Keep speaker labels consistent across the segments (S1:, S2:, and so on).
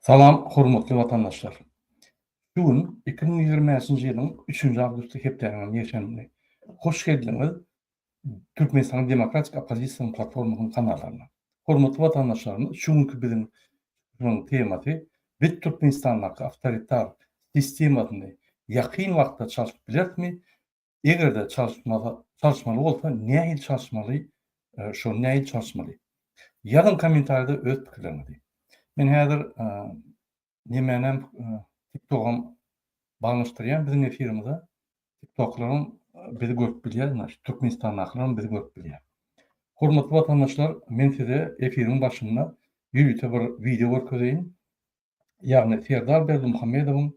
S1: Salam hormatly watandaşlar. Şu gün iki müň ýigrimi bäşinji ýylyň üçünji awgusty hepdäniň ýekşenbesi. Hoş geldiňiz Türkmenistanyň Demokratik Oppozisiýasynyň platformasynyň kanalaryna. Hormatly watandaşlarymyz şu günki biziň çykyşymyzyň temasy Biz Türkmenistandaky awtoritar sistemasyny ýakyn wagtda çalşyp bilerismi Eger-de çalyşmaly, çalyşmaly bolsa nähili çalyşmaly, şony nähili çalyşmaly? Ýazyň kommentariýada öz pikirleriňizi. Men häzir nemänem TikTok-am baglaşdyrýan biziň efirimize. TikToklaryň bizi görüp bilýär, naşy Türkmenistandakylaram bizi görüp bilýär. Hormatly watandaşlar, men size efiriň başynda ýörite bir wideo görkezeýin. ýagny Serdar Berdimuhamedowyň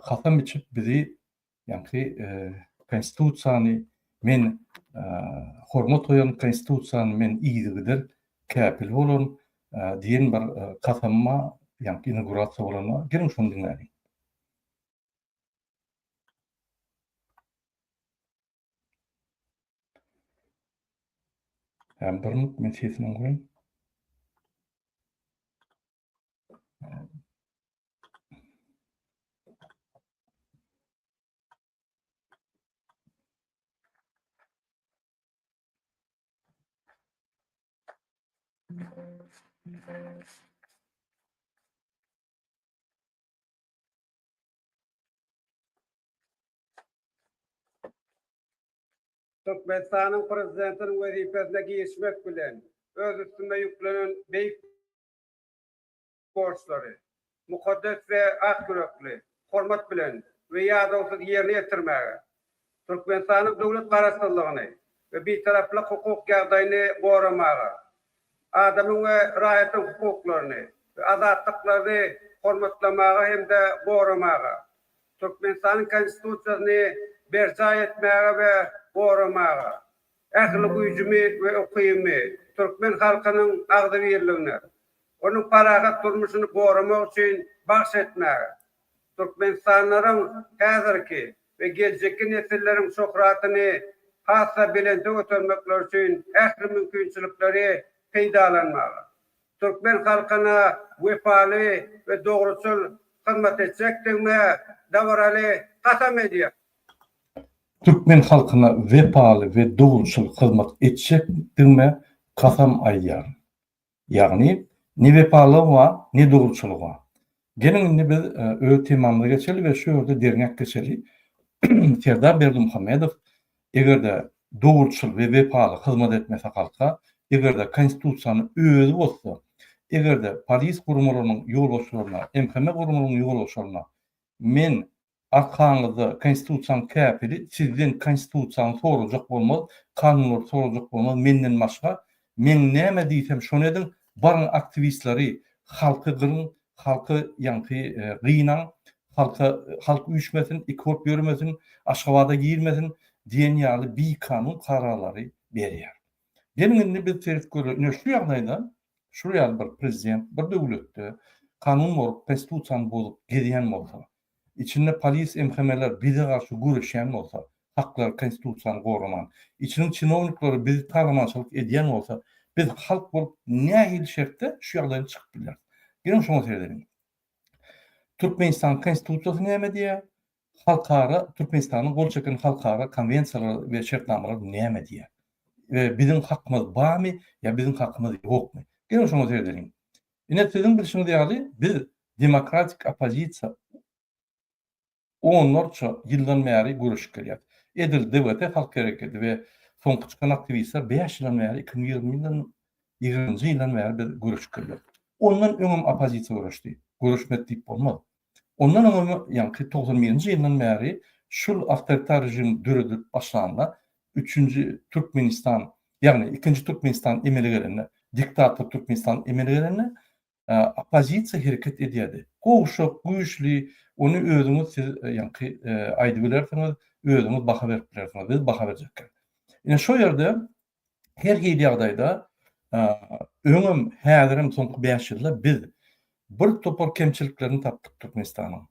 S1: kasam içip bizi ýaňky konstitusiýany men hormat goýan konstitusiýany men yzygider käpil bolaryn diýen bir kasama ýaňky inaugurasiýa bolanda geliň şony diňläliň. Hem bir minut men sesini goýaýyn.
S2: Türkmenistanyň Prezidentiniň wezipesine girişmek bilen, öz üstüme ýüklenen beýik borçlary mukaddes we ak ýürekli, hormat bilen we ýadawsyz ýerine ýetirmäge, Türkmenistanyň döwlet Garaşsyzlygyny we Bitaraplyk hukuk ýagdaýyny goramaga, adamyň we raýatyň hukuklaryny we azatlyklaryny hormatlamaga hem-de goramaga, Türkmenistanyň Konstitusiýasyny berjaý etmäge we goramaga, Ähli güýjümi we ukymy türkmen halkynyň agzybirligine, onuň parahat durmuşyny goramak üçin bagş etmäge, türkmenistanlylaryň häzirki we geljekki nesilleriň şöhratyny has-da belente götermekleri üçin ähli mümkinçilikleri peýdalanmaga, türkmen halkyna wepaly we dogruçyl hyzmat etjekdigime dabaraly kasam edýärin.
S1: Türkmen halkyna wepaly we dogruçyl hyzmat etjekdigime kasam aýdýaryn. Ýagny, ne wepalygyma, ne dogruçylygyma. Geliň indi biz öz temamyza geçeli we şu ýerde derňek geçeli, Serdar Berdimuhamedow eger-de dogruçyl we wepaly hyzmat etmese halka, eger-de Konstitusiýany özi bozsa, eger-de polis guramalarynyň ýolbaşçylaryna, MHM guramalarynyň ýolbaşçylaryna men Arkaňyzda konstitusiýaň käpili sizden konstitusiýaňy sorajak bolmaz, kanunlary sorajak bolmaz menden başga, meň näme diýsem şony ediň, baryň aktiwistleri halky gyryň, halky ýaňky gynaň, halka halk üýşmesin, iki bolup ýörmesin, Aşgabada girmesin diýen ýaly bikanun kararlary berýär. Geliň indi biz serip göreli ine şu ýagdaýda şuly ýaly bir prezident bir döwletde kanun bolup konstitusiýany bozup gezýän bolsa, Içinde polis MHMler bize garşy göreşýän bolsa, haklary konstitusiýany goraman, içiniň çinownikleri bizi talamançylyk edýän bolsa, biz halk bolup nähili şertde şu ýagdaýdan çykyp bilýäris? Geliň şoňa seredeliň. Türkmenistanyň konstitusiýasy näme diýýär? Halkara Türkmenistanyň gol çeken halkara konwensiýalary we şertnamalary näme diýýär? We biziň hakymyz barmy ýa biziň hakymyz ýokmy? Geliň şoňa seredeliň. Ine siziň bilşiňiz ýaly biz demokratik oppozisiýa onlarça ýyldan bäri göreşip gelýäs. Edil DWT halk hereketi we soňky çykan aktiwistler bäş ýyldan bäri iki müň ýigrimi ýyldan ýigrimiji ýyldan bäri biz göreşip gelýäs. Ondan öňem oppozisiýa göreşdi. Göreşmedi diýip bolmaz. Ondan öň hem, ýaňky togsan birinji ýyldan bäri şul awtoritar režim döredilip başlanda, üçünji Türkmenistan, ýagny ikinji Türkmenistan emele gelende, diktator Türkmenistan emele gelende, oppozisiýa hereket edýärdi. Gowşak, güýçli, ony özüňiz siz ýaňky aýdybilersiňiz, özüňiz baha berip bilersiňiz, biz baha berjekkä. Ine, şo ýerde Her hili ýagdaýda, öňem, häzirem soňky bäş ýylda biz bir topar kemçiliklerini tapdyk Türkmenistanyň.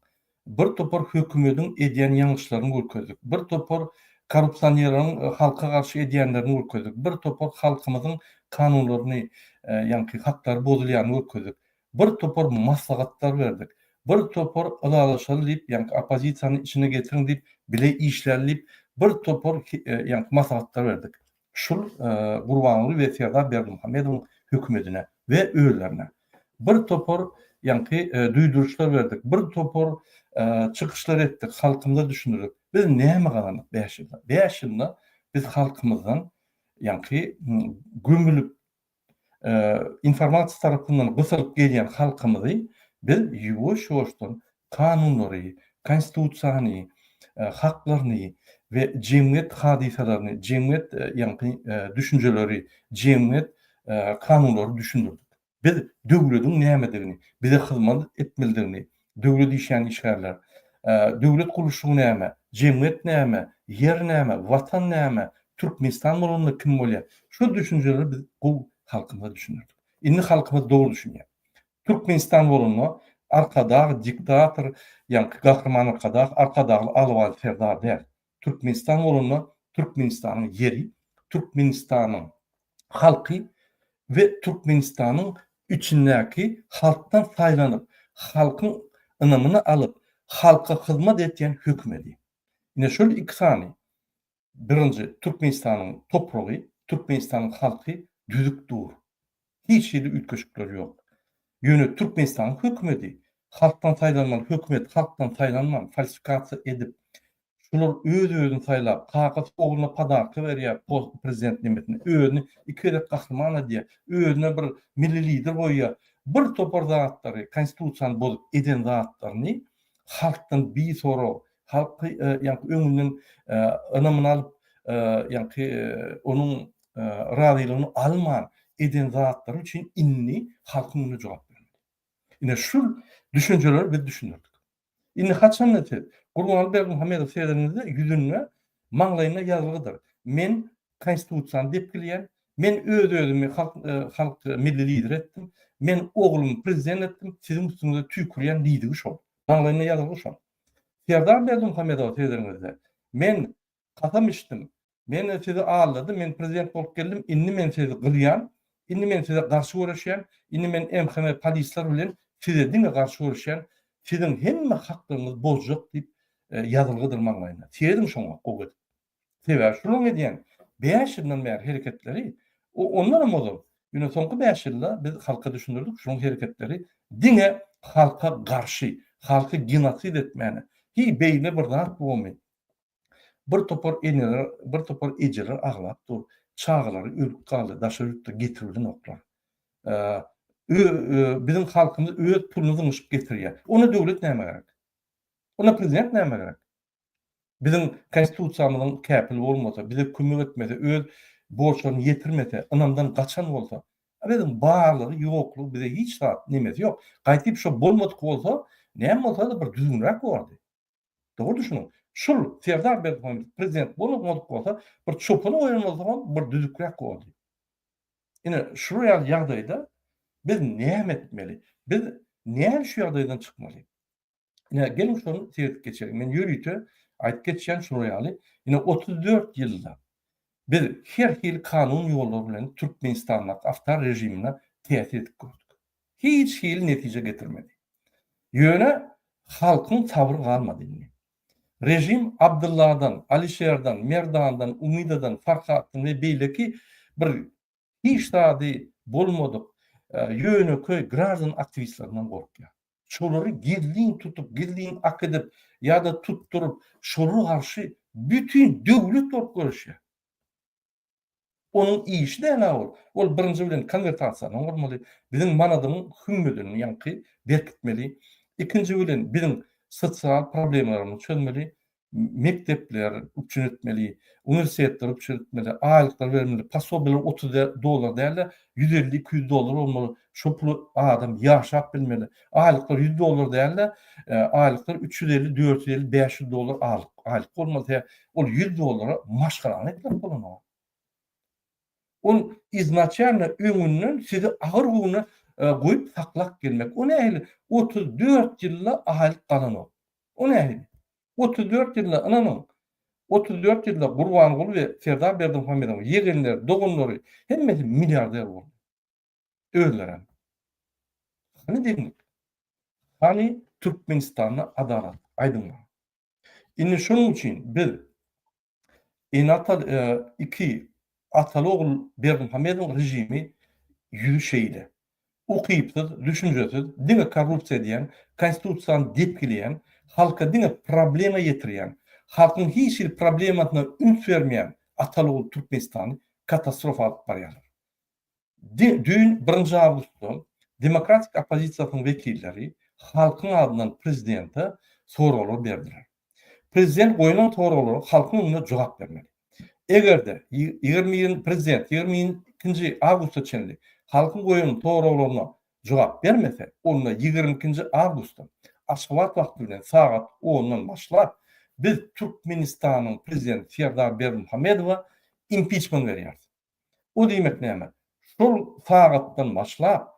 S1: Bir topar hökümediň edýän ýalňyşlaryny görkezdik. Bir topar korrupsioneriň halka garşy edýänlerini görkezdik. Bir topar halkymyzyň kanunlaryny, ýagny haklary bozulýany görkezdik. bir topar maslahatlar berdik, bir topar ylalaşaly diýip ýaňky oppozisiýany içine getiriň diýip bile işläli diýip bir topar ýaňky maslahatlar berdik şul Gurbanguly we Serdar Berdimuhamedowyň hökümedine we özlerine bir topar ýaňky duýduryşlar berdik bir topar çykyşlar etdik halkymyza düşündirdik biz näme gazandyk bäş ýylda bäş ýylda biz halkymyzdan ýaňky gömülip informasiýa tarapyndan gysylyp gelýän halkymyzy biz ýuwaş-ýuwaşdan kanunlary, Konstitusiýany, haklaryny we jemgyýet hadysalaryny, jemgyýet ýaňky düşünjeleri, jemgyýet kanunlary düşündirdik. Biz döwletiň nämedigini, bize hyzmat etmelidigini, Döwlet işleýän işgärler. Döwlet gurluşygy näme? Jemgyýet näme? Ýer näme? Watan näme? Türkmenistan bolanda kim bolýar? Şu düşünjeleri biz gowy halkymyza düşündirdik. Indi halkymyz dogry düşünýär. Türkmenistan bolanda Arkadag diktator, ýagny Gahryman Arkadag, Arkadagly Aly Wali Serdar däl. Türkmenistan bolanda Türkmenistanyň ýeri, Türkmenistanyň halky we Türkmenistanyň içindäki halkdan saýlanyp, halkyň ynamyny alyp, halka hyzmat etýän hökümedi. Ine şol iki sany, birinji, Türkmenistanyň topragy, Türkmenistanyň halky düzüp dur. hiç hili üýtgeşikler ýok. Ýöne Türkmenistanyň hökümedi, halkdan saýlanmaly hökümet halkdan saýlanman, falsifikasiýa edip, şular öz-özüni saýlap, kakasy ogluna podarka berýär post prezident nemesini, özüni iki gezek gahryman edýär, özüne bir milli lider goýýar, bir topar zatlary, konstitusiýany bozup eden zatlaryny halkdan bisorag, Halky ýaňky öňünden ynamyny alyp, ýaňky onuň razylygyny alman eden zatlary üçin indi halkyň öňünde jogap bermeli. Ine şul düşünjeleri biz düşündirdik. Indi haçanda siz Gurbanguly Berdimuhamedowy seredeniňizde ýüzünde, maňlaýynda ýazgydyr, Men Konstitusiýany depgilýän, men öz-özümi halk milli lider etdim, men oglumy prezident etdim, siziň üstüňize tüýkürýän diýdigi şol. Maňlaýynda ýazgydy şonuň. Serdar Berdimuhamedow sözüňizde, Men kasam içdim, men sizi aldadym, men prezident bolup geldim, indi men sizi gyrýan, indi men size garşy göreşýän, indi men MHM polisler bilen size diňe garşy göreşýän, siziň hemme haklaryňyzy bozjak diýip ýazylgydyr maňlaýyna. Seýrediň şoňa gowy edip. Sebäbi şolaryň edýän bäş ýylyndan bäri hereketleri, o ondanam ozal, ýöne soňky bäş ýylda biz halka düşündirdik, şolaryň hereketleri diňe halka garşy, halky genosid etmäne, heý beýle bir zat bormy, bir topar eneler, bir topar ejeler aglap dur, çagalary ölüp galdy, daşary ýurtda getirildenoklar. Biziň halkymyz öz puluny zyňyşyp getirýär. Onda döwlet nämä gerek? Onda prezident nämä gerek? Biziň Konstitusiýamyzyň käpil bolmasa, bize kömek etmese, öz borçlaryny ýetirmese, ynamdan gaçan bolsa, a biziň barlygy, ýoklugy bize hiç zat, nemesi ýok. Gaýdyp şo bolmadyk bolsa, näme bolsa-da bir düzgünräk bolardy. Dogry düşüniň. Şul Serdar Berdimuhamedow prezident bolmadyk bolsa, bir çopana goýan bolsagam bir düzükräk bolardy. Ine, şular ýaly ýagdaýda biz näme etmeli? Biz näme şu ýagdaýdan çykmaly? Ine, geliň şony seredip geçeliň. Men ýörite aýdyp geçýän şular ýaly, ine, otuz dört ýylda biz her hili kanun ýollary bilen Türkmenistandaky awtar režimine täsir edip gördük. Hiç hili netije getirmedi. Ýöne halkyň sabry galmady indi. Režim Abdylladan, Alişerden, Merdandan, Umydadan, Farhatdan we beýleki bir Hiç zady bolmadyk ýönekeý graždan aktiwistlerinden gorkýar. Şolary gizlin tutup, gizlin akydyp ýa-da tutduryp, şolara garşy bütin döwlet bolup göreşýär. Onuň işi däl-ä ol. Ol birinji bilen konwertasiýany gurmaly, biziň manadyň hümmedini ýaňky berkitmeli, ikinji bilen biziň sosial problemalarymyzy çözmeli, mekdepler üpjün etmeli, uniwersitetler üpjün etmeli, aýlyklar bermeli, posobiýalar otuz dollar däl-de, ýüz elli, iki ýüz dollar bolmaly, şol pula adam ýaşap bilmeli. Aýlyklar ýüz dollar däl-de, aýlyklar üç ýüz elli, dört ýüz elli, bäş ýüz dollar aýlyk bolmaly. Ol ýüz dollara maşgalany etmek bolanok. Ol iznaçialno öňünden sizi agyr güne goýup saklap gelmek. O nähili? Otuz dört ýylda aýlyk galanok. O nähili? Otuz dört ýylda, ynanyň, otuz dört ýylda Gurbanguly we Serdar Berdimuhamedowyň ýegenleri, doganlary, hemmesi milliarder boldy. Özlerem. Hany deňlik? Hany Türkmenistanda adalat? Aýdyň maňa. Indi şonuň üçin biz Eneatal iki ataly-ogul Berdimuhamedowyň režimi ýüzi şeýle. Ukypsyz, düşünjesiz, diňe korrupsiýa edýän, konstitusiýany depgileýän, halka diňe problema ýetirýän, halkyň hiç hili problemasyna üns bermeýän ataly-ogul Türkmenistany katastrofa alyp barýarlar. Düýn, birinji awgustda, demokratik oppozisiýasynyň wekilleri halkyň adyndan prezidente soraglar berdiler. Prezident goýlan soraglara halkyň öňünde jogap bermeli. Eger-de, ýigrimi, prezident ýigrimi ikinji awgusta çenli halkyň goýan soraglaryna jogap bermese, onda ýigrimi ikinji awgustda, Aşgabat wagty bilen sagat ondan başlap, biz Türkmenistanyň prezidenti Serdar Berdimuhamedowa impiçment berýäris. O diýmek näme? Şol sagatdan başlap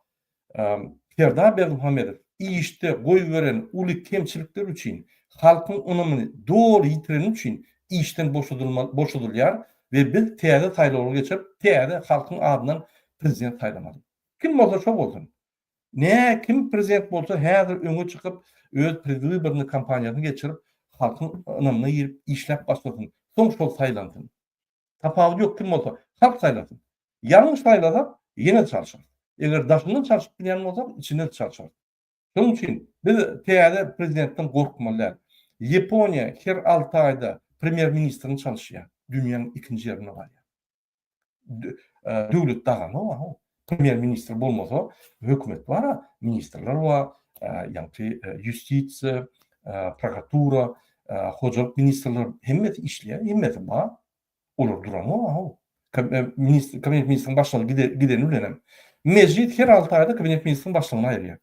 S1: Serdar Berdimuhamedow işde goýberen uly kemçilikleri üçin, halkyň ynamyny doly ýitireni üçin işden boşadylýar we biz täze saýlawlary geçirip, täze halkyň adyndan prezident saýlamaly. Kim bolsa şo bolsun. Nä kim prezident bolsa häzir öňe çykyp, öz predwybornyý kampaniýasyny geçirip, halkyň ynamyna girip işläp başlasyn, soň şol saýlansyn. Tapawudy ýok kim bolsa. Halk saýlasyn. Ýalňyş saýlasak, ýene çalşarys. Eger daşyndan çalşyp bilýän bolsak, içinden çalşarys. Şonuň üçin biz täze prezidentden gorkmaly däl. Ýaponiýa her alty aýda premýer ministrini çalyşýar. Dünýäň ikinji ýerinde galýar. Döwlet dagamok. Premýer ministr bolmasa, hökümet bar-a, ministrler bar, ýagty ýustisiýa, prokuratura, hojalyk ministrler hemmesi işleýär, hemmesi bar. Olar duranok a-how. Ministr, kabinet ministriň başlygy gideni bilenem, mejlis her alty aýda kabinet ministriň başlygyny aýyrýar.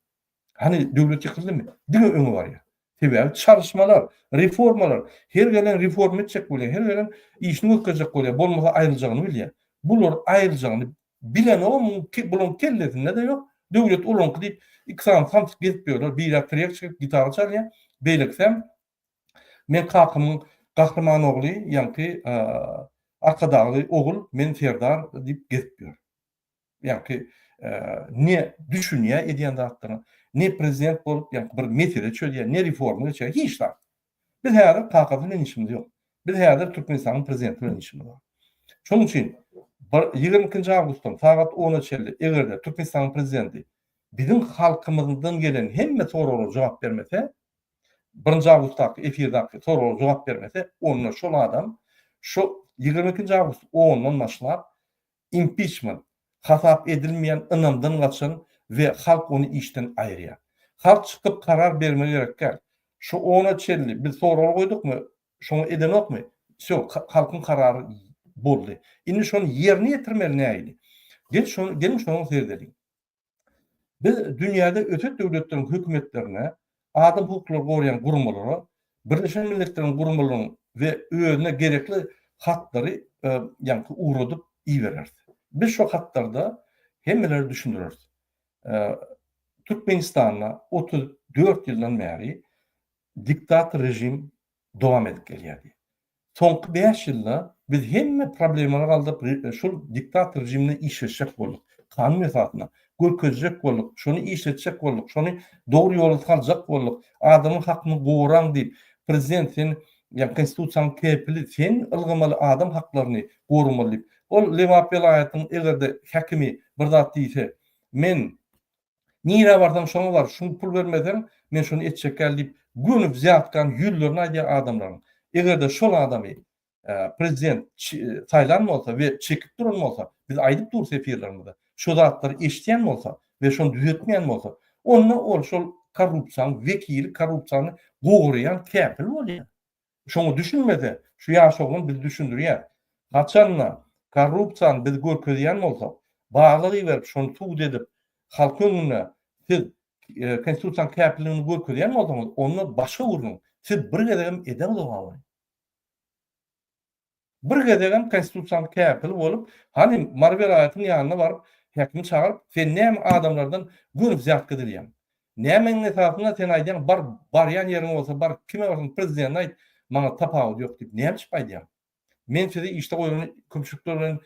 S1: Hany döwlet ýykyldymy? Diňe öňe barýar. Sebäbi çalyşmalar, reformalar, her gelen reforma etjek bolýar, her gelen işini görkezjek bolýar, bolmasa aýryljagyny bilýär. Bular aýryljagyny bilenogmy, bularyň kellesinde-de ýok, döwlet olaňky diýip iki sany samsyk gezip ýörler, biri trek çekip gitara çalýar, beýlekisem Men kakamyň gahryman ogly, ýaňky Arkadagly ogul, men serdar diýip gezip ýör. ýaňky ne düşünýär edýän zatlaryna, ne prezident bolup ýaňky bir mesele çözýär, ne reforma geçýär, hiç zat. Biz häzir kaka bilen işimiz ýok. Biz häzir Türkmenistanyň prezidenti bilen işimiz bar. Şonuň üçin bir ýigrimi ikinji awgustdan sagat ona çenli eger-de Türkmenistanyň prezidenti biziň halkymyzdan gelen hemme soraglara jogap bermese, birinji awgustdaky efirdaky soraglara jogap bermese, onda şol adam şo ýigrimi ikinji awgust ondan başlap Impiçment, hasap edilmeýän ynamdan gaçan we halk ony işden aýyrýar. Halk çykyp karar bermegi gerekgär. Şu ona çenli biz sorag goýdukmy, şoňa edenokmy, wsýo, halkyň karary boldy. Indi şony ýerine ýetirmeli nähili? Gel şony, geliň şony seredeliň. Biz dünýäde ösen döwletleriň hökümetlerine, adam hukuklaryny goraýan guramalara, Birleşen Milletleriň guramalaryň we özüne gerekli hatlary ýaňky ugradyp ibereris. Biz şo hatlarda hemmelere düşündireris. Türkmenistanda otuz dört ýyldan bäri diktator režim dowam edip gelýär diýip. Soňky bäş ýylda biz hemme problemalary galdyryp şul diktator rejimine işleşjek bolduk. Kanun esasynda. Görkezjek bolduk. Şony işletjek bolduk. Şony dogry ýola saljak bolduk. Adamyň hakyny goraň diýip. Prezident sen ýa konstitusiýanyň kepili sen ylgamaly adam haklaryny goramaly diýip. Ol Lebap welaýatynyň eger-de häkimi bir zat diýse men Nirä barsaň şoňa bar, şuny pul bermeseň, men şuny etjek däl diýip, göni wzýatkany ýüzlerine aýdýar adamlaryň. Eger-de şol adamy prezident saýlan bolsa we çekip duran bolsa, biz aýdyp durus efirlerimizde, şo zatlary eşidýän bolsa we şony düzetmeýän bolsa, onda ol şol korrupsiýanyň wekili, korrupsiýany goraýan käpil bolýar. Şoňa düşünmese, şu ýaş oglan bizi düşündirýär. Haçan-da, korrupsiýany biz görkezýän bolsak, baglyk iberip, şony subut edip, halk öňünde siz Konstitusiýanyň käpilligini görkezýän bolsaňyz, onda başga gürrüň. Siz bir gezegem edeňzok abraý. Bir gezegem konstitusiýaly käpil bolup, hanym Marweraýewiň ýanyna baryp, häkimi çagyryp, Sen näme adamlardan göni zýat gizlýäň? Nämäniň esasynda sen aýdýaň, bar, barýan ýeriň bolsa bar, kime barsaň prezidene aýt, maňa tapawudy ýok diýip, näme diýip aýdýaň? Men sizi işde goýlan köpçülikler bilen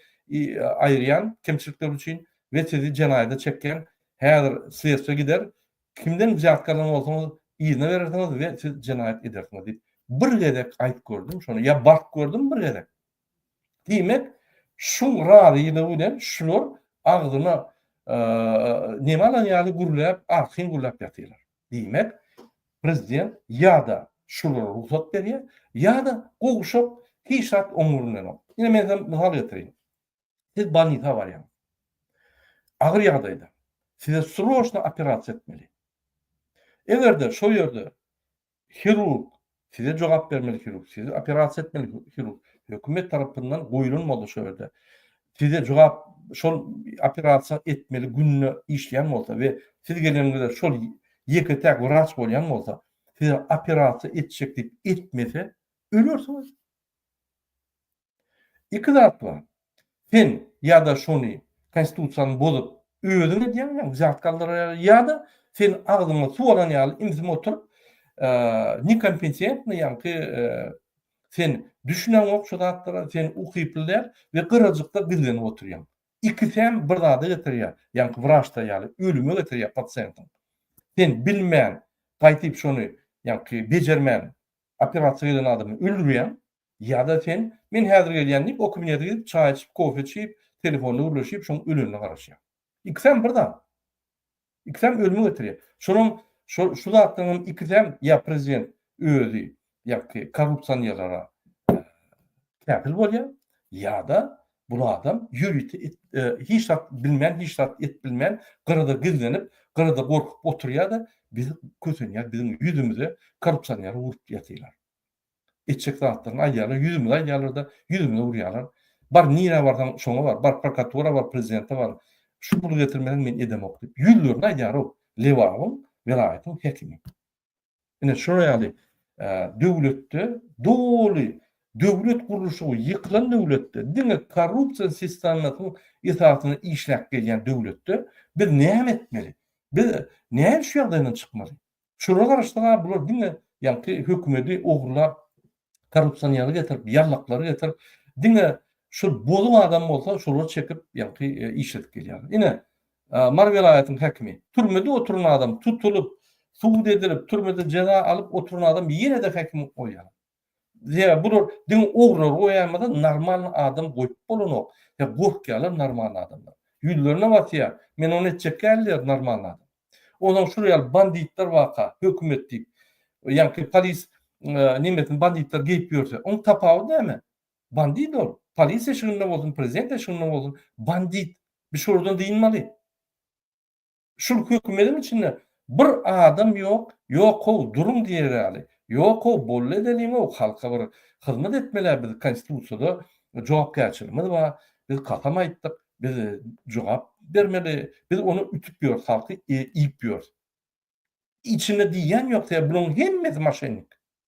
S1: aýyrýan, kemçilikler üçin we sizi jenaýada çekýän, häzir sledstwo gider, Kimden zýartky alan bolsaňyz, yzyna berersiňiz we siz jenaýat edersiňiz diýip, bir gezek aýt gördüm şony, ýa bart gördüm bir gezek. Diýmek, şu razylygy bilen şular agzyna neme alan ýaly gürläp, artyn gürläp ýatyrlar. Diýmek, prezident ýa-da şulara rugsat berýär, ýa-da gowşak hiç zat oň öňündenok. Ine men size mysal getireyim. Siz bolnisa barýaňyz. Agyr ýagdaýda. Size sroçno operasiýa etmeli. Eger-de şol ýerde hirurg size jogap bermeli hirurg, sizi operasiýa etmeli hirurg, hökümet tarapyndan goýlan bolsa şol ýerde size jogap şol operasiýa etmeli gününe işleýän bolsa we siz geleniňizde şol ýeke-täk wraç bolýan bolsa, size operasiýa etjek diýip etmese, ölersiňiz. Iki zat bar. Sen ýa-da şony konstitusiýany bozup özüň edýäň, ýa uzalt galdyrýaň, ýa-da sen agzyňa suw alan ýaly imzime oturyp nekompetentny ýaňky sen düşüneňok şu zatlara, sen ukyply däl we gyrajykda gizlenip oturýaň. Ikisem bir zada getirýär, ýaňky wraçda ýaly ölüme getirýär pasiýentiň. Sen bilmän gaýtyp şony ýaňky bejermän operasiýa gelen adamy öldürýäň. Ýa-da sen, Men häzir gelýän diýip, o kabinete gidip, çaý içip, kofe içip, telefonda gürleşip, şoň ölenine garaşýaň. Ikisem bir zat. Ikisem ölüme getirýär. Şolam, şo, şu zatlaryňam ikisem ýa prezident özi ýaňky korrupsionerlere käpil bolýar, ýa-da bul adam ýörite et, e, hiç zat bilmän, hiç zat et bilmän, gyrada gizlenip, gyrada gorkup oturýar-da, biz kösenýär, biziň ýüzümize korrupsioner urup ýatylar. etjek zatlaryny aýdýarlar, ýüzümize aýdýarlar-da, ýüzümize urýarlar. Bar, nirä barsaň, şoňa bar, bar prokuratura bar, prezidente bar, şu puly getirmeseň men edemok diýip, ýüzlerine aýdýar-ow, Lebabyň, welaýatyň häkimi. Ine, şular ýaly döwletde doly döwlet gurluşygy ýykylan döwletde, diňe korrupsiýa sistemasynyň esasynda işläp gelýän döwletde biz näme etmeli? Biz näme şu ýagdaýdan çykmaly? Şolara garaşsaňa bular diňe ýaňky hökümedi ogurlap korrupsiýanerleri getirip ýallaklary getirip diňe şu bozum adam bolsa şolary çekip ýaňky işledip gelýär. Ine Mary welaýatyň häkimi türmede oturan adam tutulyp sud edilip türmede jeza alyp oturan adam ýene-de häkim goýýar. Ýa bular diňe ogrylary goýamyza normalny adam goýup bolanok ýa gorkýalar normalny adamdan ýüzlerine basýa men ony etjek däl diýer normalny adam ozan şular ýaly banditler baka hökümet diýip ýaňky polis nemesini banditler geýip ýörse oň tapawudy näme bandit ol polis eşiginde bolsun prezident eşiginde bolsun bandit biz şolardan dynmaly. Şul hökümediň içinde bir adam ýok, ýok-how duruň diýer ýaly, ýok-how bolly edeliň-ow halka bir hyzmat etmelä biz konstitusiýada jogapkärçiligimiz bar, biz kasam aýtdyk, biz jogap bermeli, biz ony ütüp ýörüs halky iýip ýörüs. Içinde diýýän ýok sebäbi bulaň hemmesi maşennik.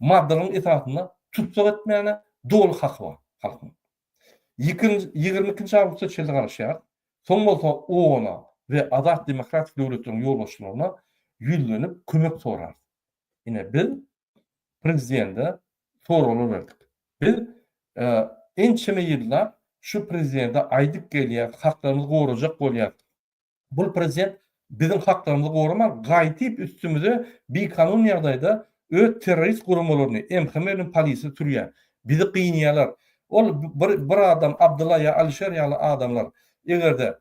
S1: maddalaryň esasynda tussag etmäne doly haky bar halkyň. Ýigrimi ikinji awgustda çölde garaşýarys, soň bolsa OON-a we azat demokratik döwletleriň ýolbaşçylaryna ýüzlenip kömek sorarys. Ine, biz prezidende soraglar berdik. Biz ençeme ýyllap şu prezidende aýdyp gelýäris, haklarymyzy gorajak bolýarys. Bul prezident biziň haklarymyzy goraman gaýdyp üstümize bikanun ýagdaýda öz terrorist guramalaryny MHM bilen polisini sürýä. Bizi gynýalar. Ol bir bir adam Abdylla ýa Alişer ýaly adamlar egerde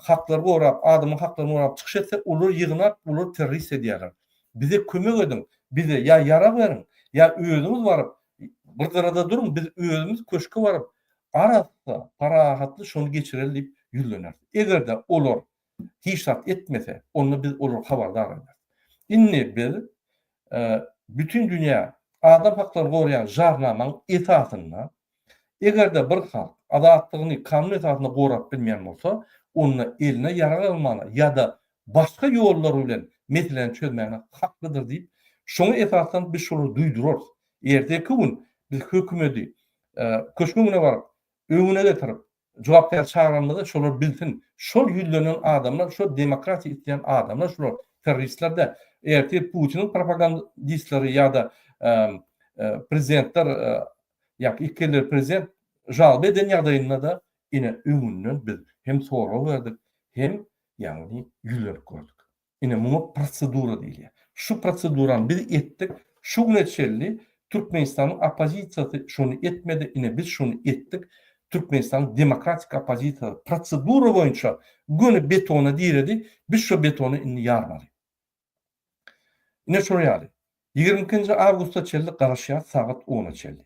S1: haklary gorap adamyň haklaryny gorap çykyş etse olar ýygnap olar terrorist edýäler. Bize kömek ediň bize ýa ýarag beriň ýa özüňiz baryp bir gyrada duruň biz özümiz köşke baryp Arassa, parahatly şony geçireli diýip ýüzleneris. Eger-de olar hiç zat etmese, onda biz olary habardar ederis. Indi biz bütin dünýä adam haklaryny goraýan jarnamaň esasynda, eger-de bir halk azatlygyny kanun esasynda gorap bilmeýän bolsa, onda eline ýarag almaga ýa-da başga ýollar bilen meseläni çözmäne haklydyr diýip, şoňa esaslanyp biz şolary duýdurarys. Erteki gün biz hökümeti Köşge öňüne baryp, öňüne getirip, jogapkär çagyranyňyzda şolar bilsin, şol ýüzlenen adamlar, şol demokratiýa isleýän adamlar şular terroristler-de, ertir Putiniň propagandistleri ýa-da prezidentler ýa iki elli prezident žalba eden ýagdaýynda-da ine öňünden biz hem sorag berdik, hem ýagny ýüzlenip gördük. Ine, muňa prosedura diýilýär. Şu prosedurany biz etdik. Şu güne çenli Türkmenistanyň oppozisiýasy şony etmedi. Ine, biz şony etdik. Türkmenistanyň demokratik oppozisiýasy prosedura boýunça göni betona diredi. Biz şo betony indi ýarmaly. Ine, şol ýaly. Ýigrimi ikinji awgusta çenli garaşýarys, sagat ona çenli.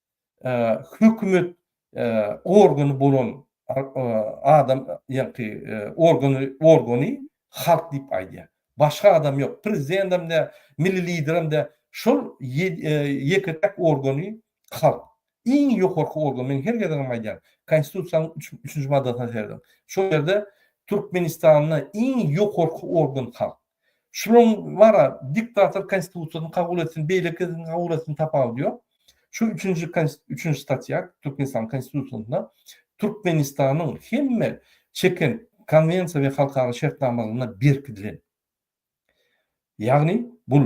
S1: hökümet organy bolan adam ýaňky organy organy halk diýip aýdýar. Başga adam ýok. Prezidentem däl, milli liderem däl. Şol ýeke-täk organy halk. Iň ýokarky organ. Men her gezegem aýdýan. Konstitusiýanyň üçünji maddasyna serediň. Şol ýerde Türkmenistanda iň ýokarky organ halk. Şunuň bar-a, diktator konstitusiýasyny kabul etsin, beýleki edsin, kabul etsin, tapawudy ýok. Şu üçünji üçünji statýa Türkmenistanyň Konstitusiýasynda Türkmenistanyň hemme çeken konwensiýa we halkara şertnamalaryna berkidilen. Ýagny bul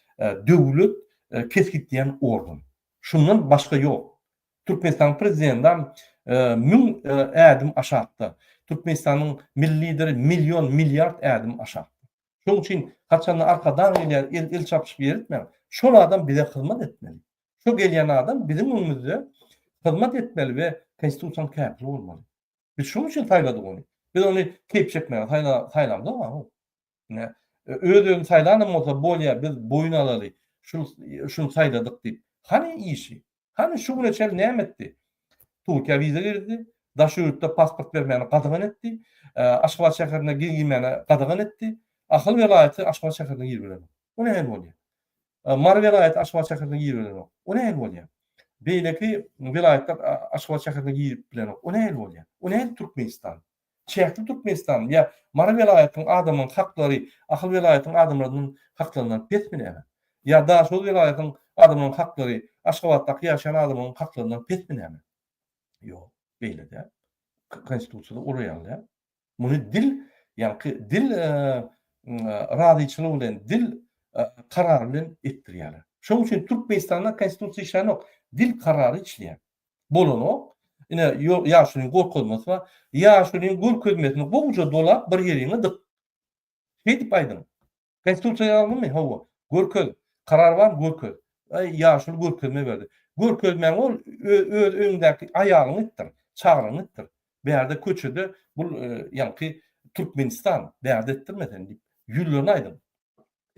S1: Döwlet kesgitleýän organ. Şundan başga ýok. Türkmenistanyň Prezidendam müň ädim aşakda. Türkmenistanyň Milli Lideri million, milliard ädim aşakda. Şonuň üçin haçanda arkadag gelýär, el el çapyşyp ýer etmäň. Şol adam bize hyzmat etmeli. Şo gelýän adam biziň öňümizde hyzmat etmeli we Konstitusiýanyň käpili bolmaly. Biz şonuň üçin saýladyk ony. Biz ony keýp çekmäge saýlamzok. Ine, öz-özüni saýlanam bolsa, bolýa, biz boýun alaly, şul, şuny saýladyk diýip. Hany işi? Hany şu güne çenli näme etdi? Türkiýä wiza girdi, daş ýurtda pasport bermäni gadagan etdi, Aşgabat şäherine girmäni gadagan etdi. Ahal welaýaty Aşgabat şäherine girip bilenok. O nähili bolýar? Mary welaýaty Aşgabat şäherine girip bilenok. O nähili bolýar? Beýleki welaýatlar Aşgabat şäherine girip bilenok. O nähili bolýar? O nähili Türkmenistan? Çäkli Türkmenistanyň ýa Mary welaýatynyň adamyň haklary Ahal welaýatynyň adamlarynyň haklaryndan pesmi näme? Ýa Daşoguz welaýatynyň adamlarynyň haklary Aşgabatdaky ýaşaýan adamlarynyň haklaryndan pesmi näme? Ýok, beýle däl. Konstitusiýada ol ýaly däl. Muny dil, ýaňky dil razyçylygy bilen, dil karary bilen etdirýärler. Şonuň üçin Türkmenistanda Konstitusiýa işlänok, dil karary işleýär. bolanok. Ine, ýaşulyň gorkazmasy bar. Ýaşulyň görkezmesini gowja dolap bir ýeriňe dyk. Şeýdip aýdyň. Konstitusiýa ýazylymy? Hawa. Görkez. Karar barmy? Görkez. Ýaşuly görkezme berdi. Görkezmäňi ol öz öýüňdäki aýalyňa etdir, çagryňa etdir. Bärde köçede bul ýaňky Türkmenistan, bärde etdirme sen diýip, ýüzlerine aýdyň.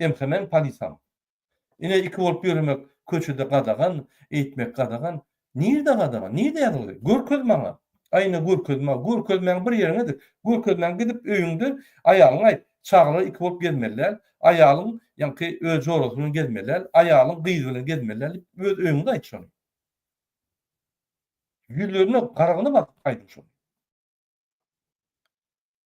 S1: MHM-niň polisam. Ine iki bolup ýöremek köçede gadagan, eýtmek gadagan. Nirde gadagan? Nirde ýazyldy? Görkez maňa. Aýna görkez maňa. Görkezmäň bir ýeriňedi. Görkezmäň gidip öýüňde aýalyňa aýt. Çagalar iki bolup gezmeli däl. Aýalyň ýaňky öz jorasy bilen gezmeli däl. Aýalyň gyzy bilen gezmeli däl diýip öz öýüňde aýt şony. Ýüzlerine garagyny basyp aýdyň şony.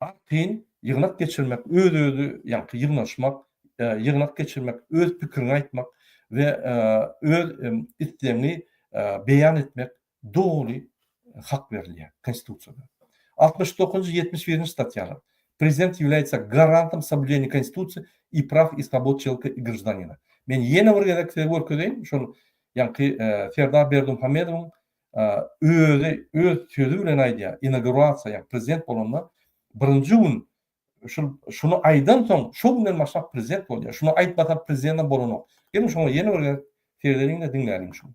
S1: Has kyn, ýygnak geçirmek, öz-özi, ýaňky ýygnaşmak, ýygnak geçirmek, öz pikiriňi aýtmak we öz islegiňi beýan etmek doly hak berilýär Konstitusiýada. Altmyş dokuzynjy, ýetmiş birinji statýalar, Prezident ýavlýaýsa garantym soblýuženiýa Konstitusiýa i praw i swobod çelka i graždanina. Men ýene bir gezek size görkezeýin, şol ýaňky Serdar Berdimuhamedowyň özi öz sözi bilen aýdýar, inagurasiýa, ýagny prezident bolanda birinji gün şul şuny aýdansoň, şo günden başlap prezident bolýar. Şuny aýtmasa prezidentem bolanok. Geliň şoňa ýene bir gezek seredeliň-de diňläliň şuny.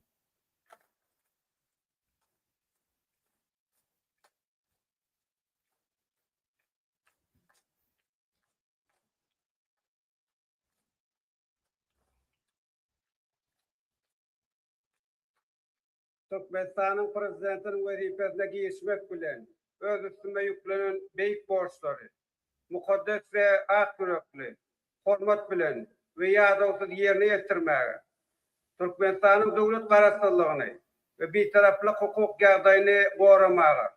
S2: Türkmenistanyň Prezidentiniň wezipesine girişmek bilen, öz üstüme ýüklenen beýik borçlary mukaddes we ak ýürekli, hormat bilen we ýadawsyz ýerine ýetirmäge, Türkmenistanyň döwlet Garaşsyzlygyny we Bitaraplyk hukuk ýagdaýyny goramaga,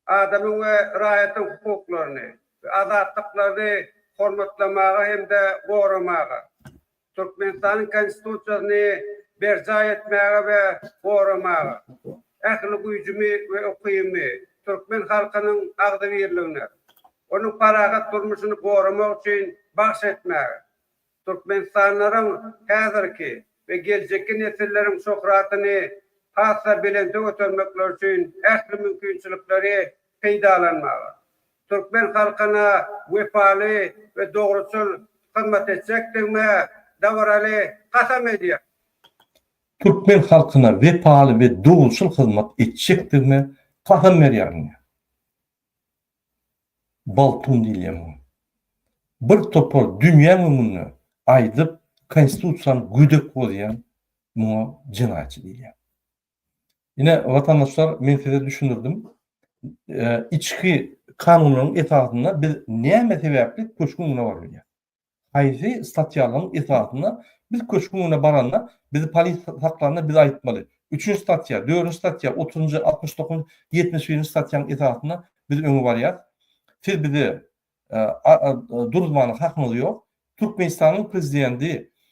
S2: adamyň we raýatyň hukuklaryny we azatlyklaryny hormatlamaga hem-de goramaga, Türkmenistanyň Konstitusiýasyny berjaý etmäge we goramaga, ähli güýjümi we ukybymy türkmen halkynyň agzybirligine, onuň parahat durmuşyny goramak üçin bagş etmäge, Türkmenistanlaryň häzirki we geljekki nesilleriň şöhratyny has-da belente götermekleri üçin ähli mümkinçilikleri peýdalanmaga, türkmen halkyna wepaly we dogruçyl hyzmat etjekdigime dabaraly kasam edýän.
S1: Türkmen halkyna wepaly we dogruçyl hyzmat etjekdigime kasam berýärin diýýär. Baltun diýilýär muňa. Bir topar dünýäň öňünde aýdyp, konstitusiýany gödek bozýan muňa jenaýatçy diýilýär. Ine, watandaşlar, men size düşündirdim. Eee, içki kanunlaryň esasynda biz näme sebäpli köşgüň öňüne baryp bilýäris? Haýsy statýalaryň esasynda biz köşgüň öňüne baranda, bizi polis saklanda biz aýtmaly, üçünji statýa, dördünji statýa, otuzynjy, altmyş dokuzynjy, ýetmiş birinji statýanyň esasynda biz öňe barýas. Siz bizi duruzmana hakyňyz ýok. Türkmenistanyň prezidenti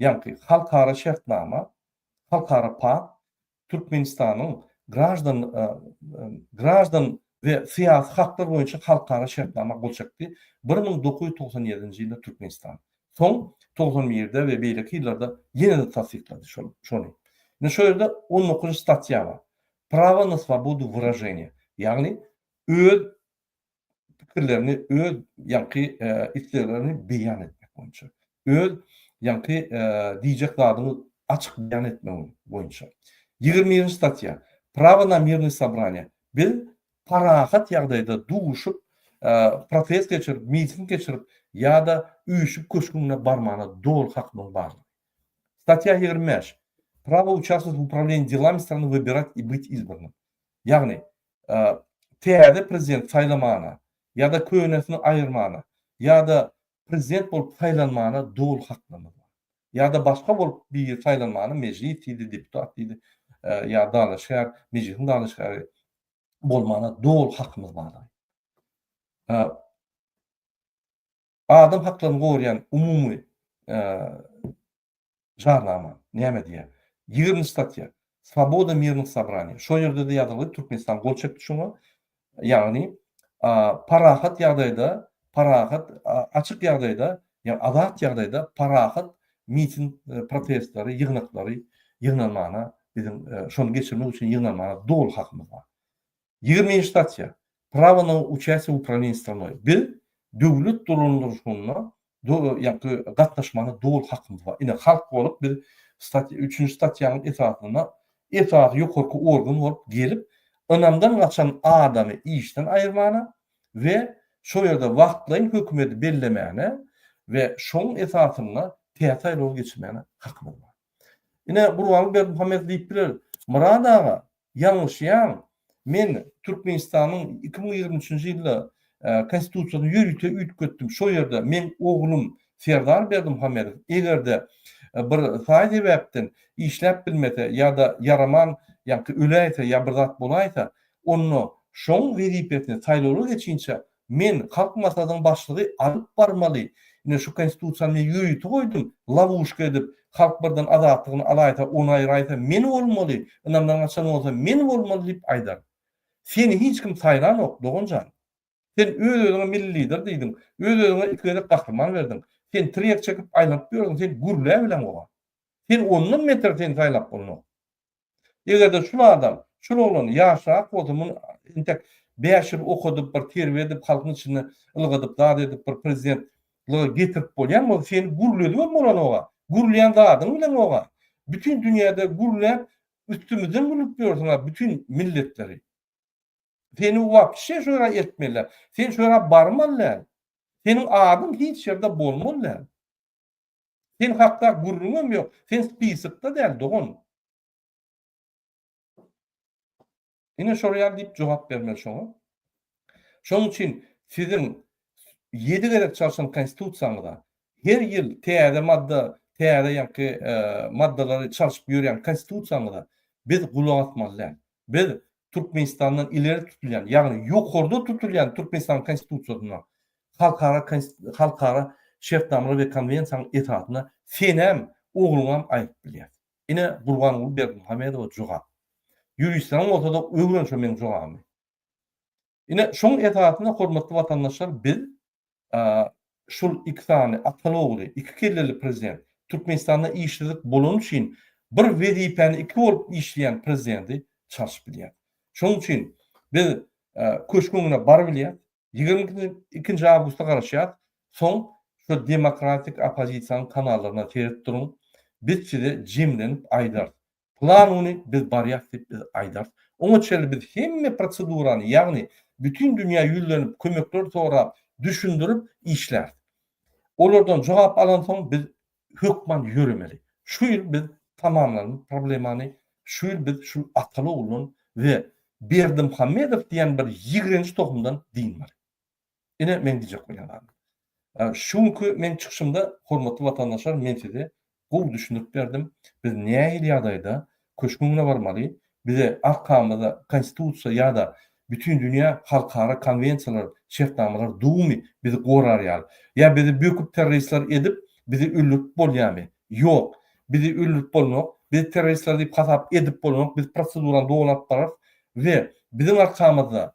S1: ýagty halkara şertnama, halkara pakt, Türkmenistanyň graždan graždan we syýasy haklar boýunça halkara şertnama gol çekdi, bir müň dokuz ýüz togsan ýedinji ýylda Türkmenistan, soň togsan birde we beýleki ýyllarda ýene-de tassyklady şol şony. Indi şo ýerde on dokuzynjy statýa bar, Prawo na svobodu wyraženiýa, ýagny öz pikirlerini, öz ýaňky isleglerini beýan etmek boýunça, öz ýaňky diýjek zadyňy açyk beýan etmek boýunça. Ýigrimi birinji statýa, Prawo na mirne sobraniýe. Biz parahat ýagdaýda duşup, protest geçirip, miting geçirip ýa-da üýşüp köşgüňe barmana doly hakymyň bar. Statýa ýigrimi bäş, Prawo uçastwowat w uprawilenýi delami strany wybirati i byt izbrnym. Ýagny, täze prezident saýlamana ýa-da könesini aýyrmana ýa-da prezident bolup saýlanmana doly haklarymyz bar. Ýa-da başga bolup biri saýlanmana mejlis diýdi, deputat diýdi ýa dalaşgär, mejlisiň dalaşgäri bolmana doly hakymyz bardyr. Adam haklaryny goraýan umumy Jarnama näme diýýär? Ýigriminji statýa, Swoboda mirnych sobraniýa. Şol ýerde-de ýazylgy, Türkmenistan gol çekdi şuňa. Ýagny, parahat ýagdaýda, parahat, açyk ýagdaýda, ýa azat ýagdaýda parahat miting protestleri, ýygnaklary ýygnanmagyna biziň şony geçirmek üçin ýygnanmagyna doly hakymyz bar. Ýigrimi nji statýa. Prawo na uçasie w uprawieniýi stranoý. Biz döwlet dolandyryşyna gatnaşmaga doly hakymyz bar. Ine, halk bolup biz statýa, üçünji statýanyň esasynda esasy ýokarky organ bolup gelip, ynamdan gaçan adamy işden aýyrmana we şol ýerde wagtlaýyn hökümeti bellemäne we şoň esasynda täze saýlawy geçirmäne hakymyz bar. Ine Gurbanguly Berdimuhamedow diýip biler, Myrat aga, ýalňyşýaň, men Türkmenistanyň iki müň ýigrimi üçünji ýylda Konstitusiýasyny ýörite üýtgetdim, şo ýerde meň oglum Serdar Berdimuhamedow eger-de bir saý sebäpden işläp bilmese ýa-da ýaraman ýa-ki öläýse ýa bir zat bolaýsa, onda şoň wezipesini saýlawlar geçinçä Men Halk Maslahatynyň başlygy alyp barmaly, ine şu konstitusiýany men ýörite goýdum, lawuşka edip, halk birden azatlygyny alaýsa, ony aýraýsa men bolmaly, ynamdan gaçan bolsa men bolmaly diýip aýdar. Seni hiç kim saýlanok, dogan jan. Sen öz-özüňe milli lider diýdiň, öz-özüňe iki gezek gahryman berdiň. Sen tirýek çekip aýlanyp ýördüň, sen gürläp bileň oba. Sen ondan beter seni saýlap bolanok. Eger-de şul adam, şul oglan ýaşrak bolsa, muny entek bäş ýyl okadyp, bir terbiýe edip, halkyň içinde ylgadyp, zat edip, bir prezident lyga getirip bolýan bolsa, seni gürledibem bolanok-a. Gürleýän zadyň bileň ýok-a. Bütin dünýäde gürläp, üstümizden gülüp ýörsüň-ä bütin milletleri. Seni wapşe şu ýere eltmeli däl. Sen şu ýere barmaly däl. Seniň adyň hiç ýerde bolmaly däl. Sen hakda gürrüňem ýok. Sen spisokda däl, dogan. Ine şol ýaly diýip jogap bermeli şoňa. Şonuň üçin siziň ýedi gezek çalşan Konstitusiýaňyza, her ýyl täze madda, täze ýaňky maddalary çalşyp ýörýän Konstitusiýaňyza biz gulak asmaly däl. Biz Türkmenistandan ileri tutulýan, ýagny ýokarda tutulýan Türkmenistanyň Konstitusiýasyna, halkara halkara şertnamalar we konwensiýanyň esasyna senem, ogluňam aýdyp bilýäs. Ine, Gurbanguly Berdimuhamedowa jogap. Ýuristlaryň bolsa-da öwren şo meň jogabymy. Ine, şoň esasynda, hormatly watandaşlar, biz şul iki sany akyl ogly, iki kelleli prezident, Türkmenistanda işsizlik bolany üçin bir wezipäni iki bolup işleýän prezidenti çalşyp bilýäris. Şoň üçin biz köşk öňüne bar bilýäris, ýigrimi ikinji awgusta garaşýarys, soň şu demokratik oppozisiýanyň kanallaryndan seredip duruň, biz size jemlenip aýdarys, Plan güni biz barýas diýip biz aýdarys. Oňa çenli biz hemme prosedurany, ýagny bütin dünýä ýüzlenip, kömekler sorap, düşündirip işläris. Olardan jogap alansoň biz hökman ýöremeli. Şu ýyl biz tamamlalyň problemany, şu ýyl biz şu Ataly oguldan we Berdimuhamedow diýen bir ýigrenji tohumdan dynmaly. Ine, meň diýjek bolýan zadym. Şu günki meň çykyşymda, hormatly watandaşlar, men size gowy düşündirip berdim, biz nähili ýagdaýda Köşgüň öňüne barmaly, bize arkamyzda Konstitusiýa ýa-da bütin dünýä halkara konwensiýalar, şertnamalar dugmy, bizi gorar ýaly? Ýa bizi böküp terroristler edip, bizi öldürip bolýamy? Ýok, bizi öldürip bolanok, bizi terroristler diýip hasap edip bolanok, biz prosedurany dolaryp bararys we biziň arkamyzda